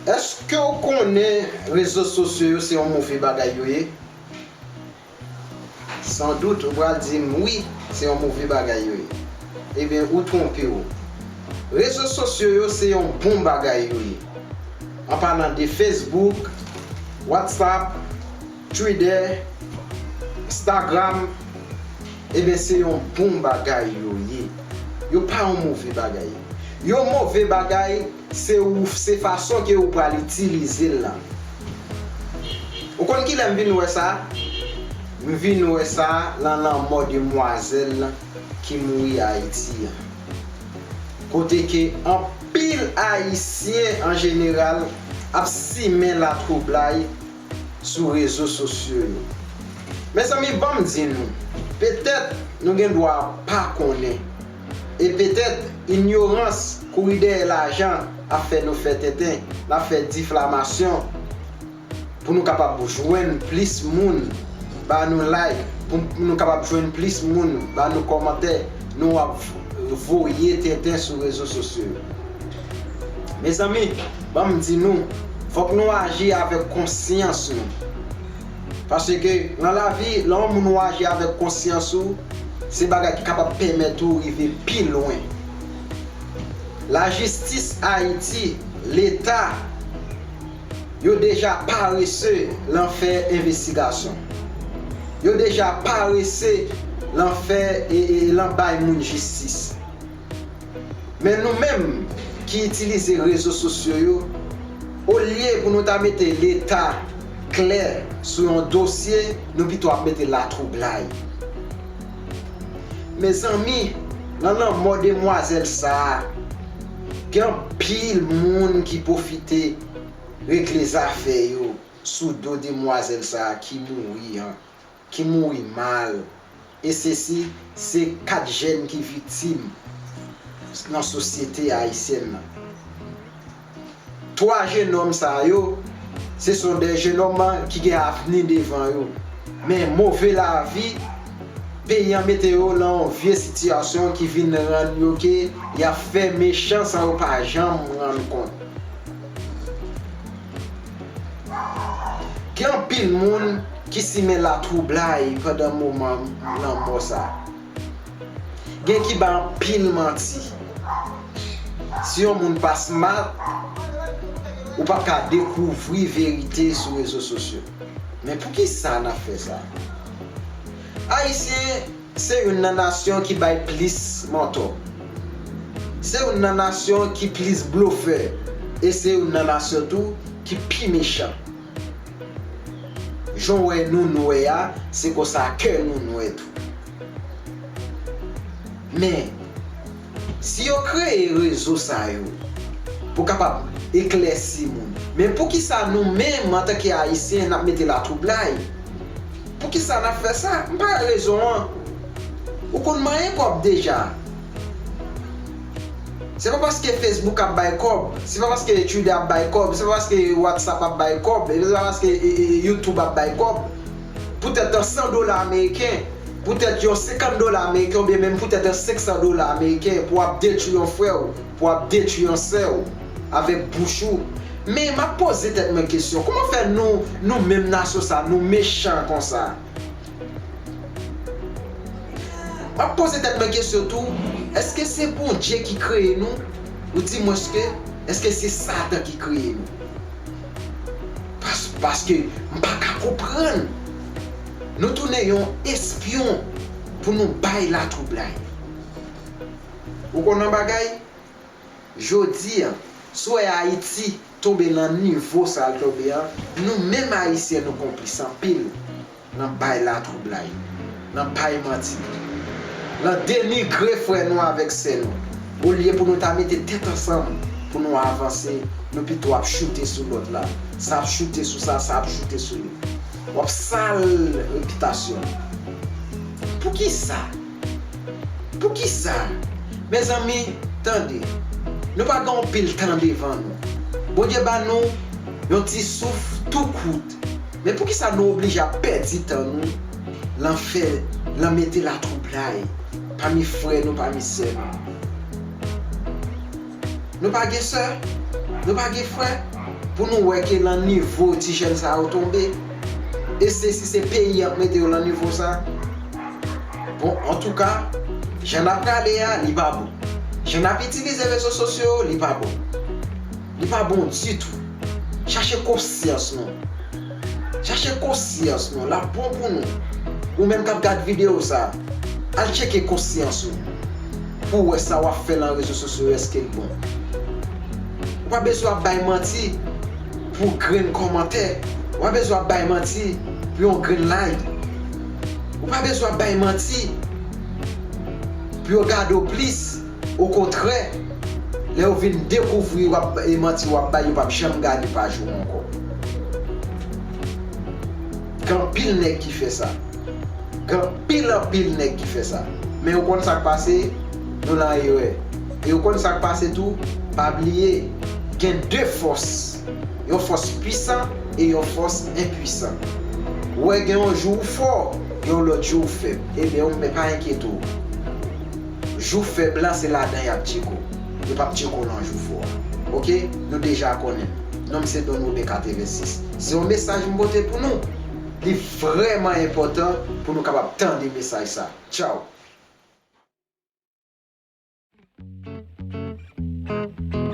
Eske w konnen rezo sosyo yo se yon move bagay yo ye? San dout ou pral di m wi se yon move bagay yo ye. Ebyen ou twonpe w. Rezo sosyo yo se yon bon bagay yo ye. An palan de Facebook, WhatsApp. Twidè, Stagram, eben se yon bon bagay yo ye. Yo pa yon move bagay. Yon move bagay se ou se fason ke ou pral itilize l lan. Ou konn kilè m vin wè sa? M vin wè sa lan lanmò demwazèl ki mouri Ayiti an. Kote ke anpil Ayisyen an jeneral ap simen latwoublay. sou rezo sosyo yo. Mezanmi banm di nou, petèt nou gen dwa pa konnen, e petèt inyorans kouri dèyè lajan ap fè nou fè tenten, nap fè diflamasyon pou nou kapab jwenn plis moun ba nou like, pou nou kapab jwenn plis moun ba nou kòmantè, nou ap voye tenten sou rezo sosyo yo. Mezanmi, ban m di nou, fòk nou aji avèk konsyans nou. Paske, nan lavi, lè yon moun ou aji avèk konsyans ou, se bagay ki kapab pèmèt ou rive pi lwen. Lajistis Ayiti, Leta, yo deja parese lan fè envestigasyon. Yo deja parese lan fè e lan bay moun jistis. Men nou menm ki itilize rezo sosyo yo, olye pou nou ta mete leta klè sou yon dosye, nou pito ap mete latwoublay. Mezanmi, nan lanmò demwazèl sa a, gen anpil moun ki pwofite regle zafè yo sou do demwazèl sa a ki mouri an. ki mouri mal e se si se 4 jèn ki viktim nan sosyete ayisyèn nan. 3 jenòm sa yo se son 2 jenòm ki gen avni devan yo men move lavi peyi an mete yo lan yon vye sitiyasyon ki vin rann yo ke y ap fè mechan san yo pa janm rann kont. Gen anpil moun ki simen latwoublay pandan moman lanmò sa. Gen ki bay anpil manti. Si yon moun pa smart, ou pap ka dekouvri verite sou rezo sosyo. Men poukisa nap fè sa? Ayisyen. Se youn nan nasyon ki bay plis mantò. Se youn nan nasyon ki plis blofè e se youn nan nasyon tou ki pi mechan. Jan w wè nou nwè a, se konsa kè nou nwè tou. Men. Si yo kreye rezo sa yo pou kapab eklèsi moun, men poukisa nou menm antanke Ayisyen n ap mete latwoublay? Poukisa n ap fè sa? M pa wè rezon an. Ou konn manyen kòb deja. Se pa paske Facebook ap bay kòb, se pa paske Twitter ap bay kòb, se pa paske WhatsApp ap bay kòb, se pa paske YouTube ap bay kòb. poutèt yon 100 dola ameriken, poutèt yon 50 dola ameriken oubyen menm poutèt yon 500 dola ameriken pou ap detwi yon frè w, pou ap detwi yon sè w avèk bouch ou. Men m ap poze tèt mwen kesyon, kouman fè nou, nou menm nasyon sa a, nou mechan konsa? M ap poze tèt mwen kesyon tou, èske se Bondye ki kreye nou? Ou di mwenske, èske se Satan ki kreye nou? Paske m pa ka konprann nou tounen yon espyon pou nou bay latwoublay. Ou konn yon bagay, jodi an, si w wè Ayiti tonbe nan nivo sa l tonbe an, nou menm Ayisyen nou konplis anpil Nan bay latwoublay. Nan bay manti. Nan denigre frè nou avèk sè nou. Olye pou nou ta mete tèt ansanm pou nou avanse, nou pito ap choute sou lòt la. Sa ap choute sou sa, sa ap choute sou li. W ap sal repitasyon l. Poukisa? Poukisa? Mezanmi, tande. Nou pa gen yon pil tan devan nou. Bondye ba nou yon ti souf tou kout. Men poukisa nou oblije ap pèdi tan nou lan fè, lan mete latwoublay pami frè nou, pami sè nou? Nou pa gen sè? Nou pa gen frè? Pou nou wè ke lan nivo ti jèn sa yo tonbe? E se si se peyi yap mete yo lan nivo sa? Bon, antouka, jan nap prale a, li pa bon. Jan nap itilize rezo sosyo yo, li pa bon. Li pa bon ditou. Chache konsyans nou. Chache konsyans nou. Lap bon pou nou. Ou menm kap gad video sa. Al tcheke konsyans ou. Pouw wè sa wap fè lan rezo sosyo yo eskel bon. Ou pa bezwen ap bay manti pou grenn kòmantè. Ou pa bezwen ap bay manti pou yon grenn like. Ou pa bezwen ap bay manti pou yo gadew plis. Okontrè, lè yo vin dekouvri w ap bay manti w ap bay, yo pap janm gade paj ou ankò. Gen anpil nèg ki fè sa. Gen anpil anpil nèg ki fè sa. Men ou konn sa k pase? Nou lan erè. E ou konn sa k pase tou? Pa bliye, gen de fòs. Yon fòs pwisan e yon fòs enpwisan. Ou wè gen yon jou ou fò, gen yon lòt jou ou fèb. Ebyen ou menm men pa enkyete w. Jou fèb la se ladan yap tcheko. Yo pap tcheko nan jou fò a. Ok, nou deja konnen m. Non m se Don Robert 86. Se yon mesaj m pote pou nou. Li vrèman enpòtan pou nou kapab tande mesaj sa. Tchaw!